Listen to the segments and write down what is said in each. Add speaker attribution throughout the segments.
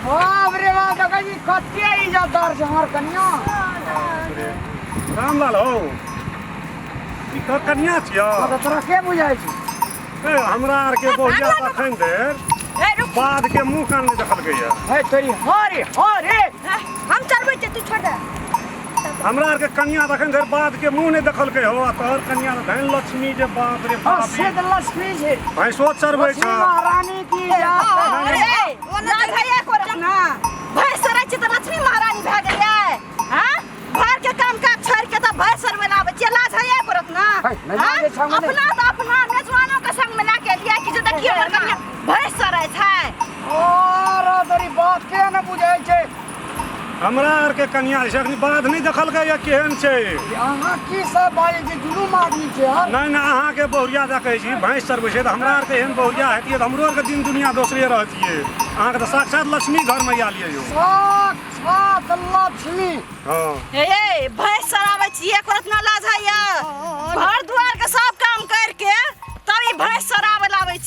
Speaker 1: बाप रे बाप देखै छी कते इज्जतदार छै हमर कनिया
Speaker 2: रामलाल हौ ई तोहर कनिया छियौ हँ तऽ तोरा के बुझाइ
Speaker 1: छै ए, हमरा
Speaker 2: आरके बोहिया तखन देर ए रुक बाद के मुंह कान नहि देखलकैया है तोरी हरे
Speaker 1: हरे हम चलबै
Speaker 3: छै तू छोड़ दे हमरा
Speaker 2: आरके कनिया एखन धरि बाध के मुंह नहि देखलकै हो आ तोहर कनिया तऽ धनि लक्ष्मी जे बाप रे बाप से तऽ लक्ष्मी
Speaker 1: छै भैंसो चरबै लक्ष्मी
Speaker 2: छ महारानी की
Speaker 1: जय। ओना
Speaker 3: भैया को ना भैंस सरै छै तऽ लक्ष्मी महारानी भए गेलियै हाँ घर के काम काज छोड़ के तऽ भैंस सरबै लाबै छियै लाज हैया करत ना है, नहि हाँ? लाजे छामे नहि। अपना तऽ अपना मेजबानो के संग में लए के लिया कि जे देखियो हमर कनिया भैंस सरै छै ओ
Speaker 1: रो तोरी बात के ने बुझै छै हमरा
Speaker 2: आरके कनिया जे छै अखन बाध नहि देखलकै या केहन छै अहाँ की
Speaker 1: सब बाजै छी दुनू आदमी छै हम नहि नहि अहाँके बहुरिया
Speaker 2: दए कहै छी भैंस चरबै छै तऽ हमरा आरके एहन बहुरिया हेतियै तऽ हमरो आरके दिन दुनिया दोसरे रहतियै अहाँके तऽ साक्षात लक्ष्मी घर मैया लिअ यौ साक्षात
Speaker 1: लक्ष्मी हँ हे
Speaker 2: ये भैंस
Speaker 3: चराबै छियै एको रत्ना लाज होइए घर दुआरके सब काम करिके तब ई भैंस चराबै लए आबै छियै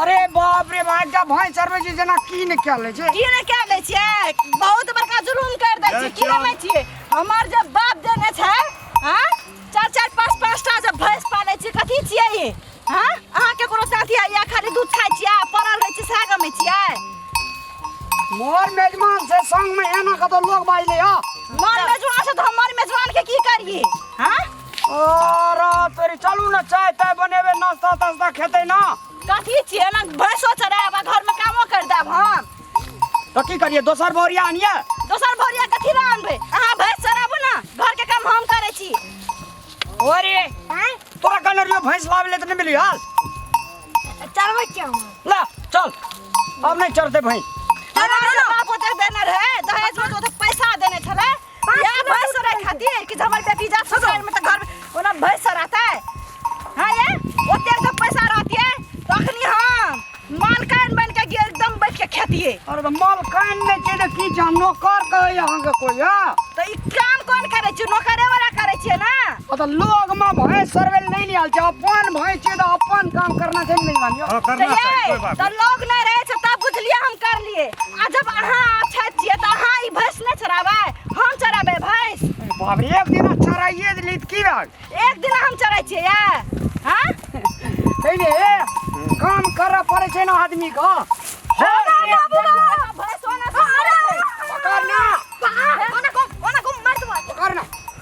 Speaker 1: अरे बाप रे भाई का भाई सर्वे जी जना की ने क्या ले छे की ने क्या ले छे
Speaker 3: बहुत बड़का जुलूम कर दे छी की ले छी हमर जब बाप देने छे हां चार चार पांच पांच टा जब भैंस पाले छी कथि छिए ई हां अहां के कोनो साथी आइया खाली दूध खाइ छिए पड़ल रहै छी साग में छिए
Speaker 1: मोर मेजमान से संग में एना कतो लोग बाइले आ मोर मेजमान
Speaker 3: से तो हमर मेजमान के की करिए हां अरे
Speaker 1: तोरी चलू ना चाय ताय बनेबे नाश्ता तास्ता खेते ना कथी छियै ना
Speaker 3: भैंसो चरायब आ घरमे कामो करि देब हम तो की
Speaker 1: करिए दोसर बोरिया आनिए दोसर भोरिया कथी
Speaker 3: लए अनबै अहाँ भैंस चराबू ने घरके काम हम करै छी अरे
Speaker 1: तोरा कहने रहियो भैंस लावे ले तो नहीं मिली हाल
Speaker 3: चरबै छियै हम ला चल
Speaker 1: अब नहीं चढ़ते भैंस हमरा बाप
Speaker 3: ओते देने रहै दहेजमे तऽ ओते पैसा देने छलै या भैंस रहे खातिर कि हमर बेटी जा ससुराल में त घर में ओना भैंस रहते हां ये ओते तो पैसा रहतिए तो अखनी हम मालकान बन के गे- एकदम बैठ के खेतिए अरे त मलकान
Speaker 1: नै छै त की जानो कर कहै अहाँ के कोइ हां तो ई काम
Speaker 3: कौन करे छु नौकरे वाला करे छिए ना ओ तऽ लोग
Speaker 1: में भैंस सरवे ले नहीं आल जा अपन भैंस छै तो अपन काम करना चाहिए नहीं मानियो हाँ, करना चाहिए कोई चाहिए
Speaker 2: बात तो नहीं लोग नहीं रहे छै
Speaker 3: तब बुझलिए हम कर लिए आ जब अहाँ अच्छा छिए तो अहाँ ई भैंस नहीं चराबै हम चराबै भैंस बाप रे एक दिन
Speaker 1: चराइए दिली त की बात एक दिन हम चरा
Speaker 3: छिए या हाँ सही
Speaker 1: ने ए, काम कर पड़े छै ना आदमी का होगा बाबू
Speaker 3: बाबा भैंस होना अरे पकड़
Speaker 1: ना ओना को
Speaker 3: ओना को मार दो पकड़ ना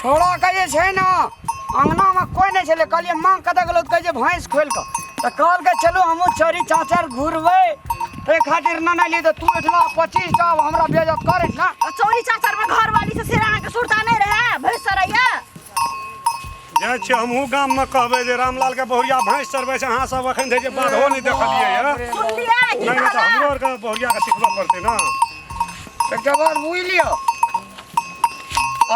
Speaker 3: छोड़ा के
Speaker 1: जे छै ने अङ्गनामे कोइ नहि छलै कहलियै माँ कतऽ गेलौ तऽ कहै छै भैंस खोलि कऽ तऽ कहलकै चलू हमहूँ चोरी चाँचर घुरबै ताहि खातिर नहि नहि ली तऽ तू एहिठिना पच्चीस टा आब हमरा बेजत कर एहिठिना आ चौरी चाचर में घर
Speaker 3: वाली से फिर अहाँके सुरता नहीं रहे भैंस सरैया
Speaker 2: जाइ छियै हमहूँ गाममे कहबै जे रामलालके बहुरिया भैंस चरबै छै अहाँ सब एखन धरि जे बाधो नहि देखलियै यऽ सुनलिए की नहि तऽ कहला
Speaker 3: हमरो आरके
Speaker 2: बहुरियाके सिखबऽ पड़तै ने एकटा
Speaker 1: बात बुझि लिअ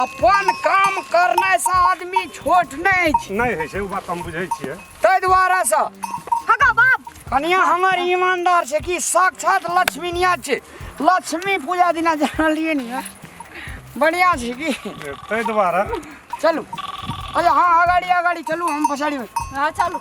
Speaker 1: अपन काम करने से आदमी छोट नहीं छै नहीं है से वो बात हम बुझे
Speaker 2: छिए तै द्वारा से
Speaker 1: हगा बाप
Speaker 3: कनिया हमर
Speaker 1: ईमानदार छै कि साक्षात लक्ष्मी निया छै लक्ष्मी पूजा दिना जानलिए नहीं बढ़िया छै कि तै द्वारा
Speaker 2: चलू
Speaker 1: अच्छा हाँ अगाड़ी अगाड़ी चलू हम पछाड़ी में हाँ चलू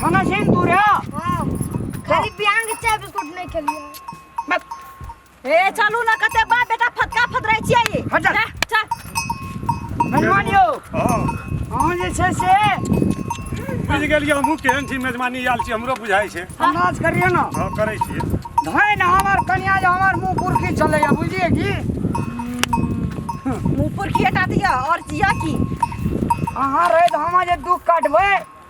Speaker 1: खाना छै तू रे
Speaker 4: खाली बिहान के चाय बिस्कुट नहीं खेलिए
Speaker 1: ए चलू
Speaker 3: ना कते बा बेटा फटका फटराइ छियै ई हट जा। जा,
Speaker 1: चल
Speaker 3: मेजबान यौ
Speaker 2: हाँ अहाँ जे छै
Speaker 1: से
Speaker 2: बुझ गेलियै हमहूँ केहन छी मेजबानी आयल छी हमरो बुझाइ छै अन्दाज करिए ने हाँ
Speaker 1: करै छियै
Speaker 2: धैन हमर
Speaker 1: कनिया जे हमर मुँह पुरखी चलैया बुझलिए की
Speaker 3: मुंह पर खियटा दिया और जिया की अहाँ
Speaker 1: रहैत हम जे दुख काटबै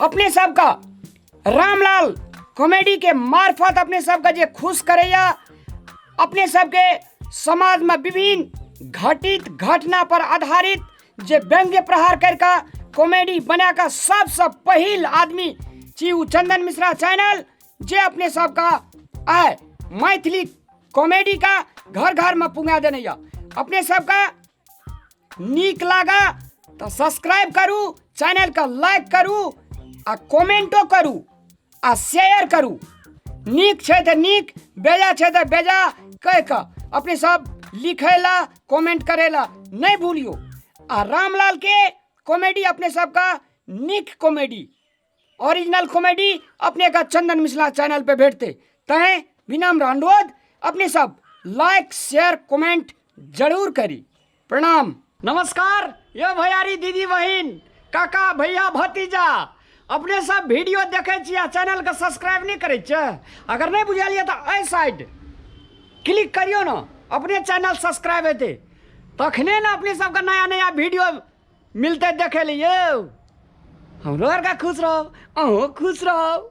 Speaker 1: अपने सबका रामलाल कॉमेडी के मार्फत अपने सबका जे खुश करैया अपने सबके समाज में विभिन्न घटित घटना पर आधारित जे व्यंग्य प्रहार करके कॉमेडी बना के सबसे पहिल आदमी छी उ चंदन मिश्रा चैनल जे अपने सबका आय मैथिली कॉमेडी का घर घर में पुंगा देने या अपने सबका नीक लागा तऽ सब्सक्राइब करू चैनलके लाइक करू आ कमेंटो करू आ शेयर करू नीक छै तऽ नीक बेजा छै तऽ बेजा कहि कऽ अपने सब लिखै ला कमेंट करै ला नहि भूलियो आ रामलाल के कॉमेडी अपने सबका नीक कॉमेडी ओरिजिनल कॉमेडी अपने का चंदन मिश्रा चैनल पे भेटते तय विनम्र अनुरोध अपने सब लाइक शेयर कमेंट जरूर करी प्रणाम नमस्कार ये भैयारी दीदी बहिन काका भैया भतीजा अपने सब वीडियो देखे छी आ चैनल के सब्सक्राइब नहीं करे छे अगर नहीं बुझलिए तो एहि साइड क्लिक करियो ना अपने चैनल सब्सक्राइब हेतै तखने ने अपने सबके नया नया वीडियो मिलतै देखै लए यौ हमरो आरके खुश रहब अहूँ खुश रहब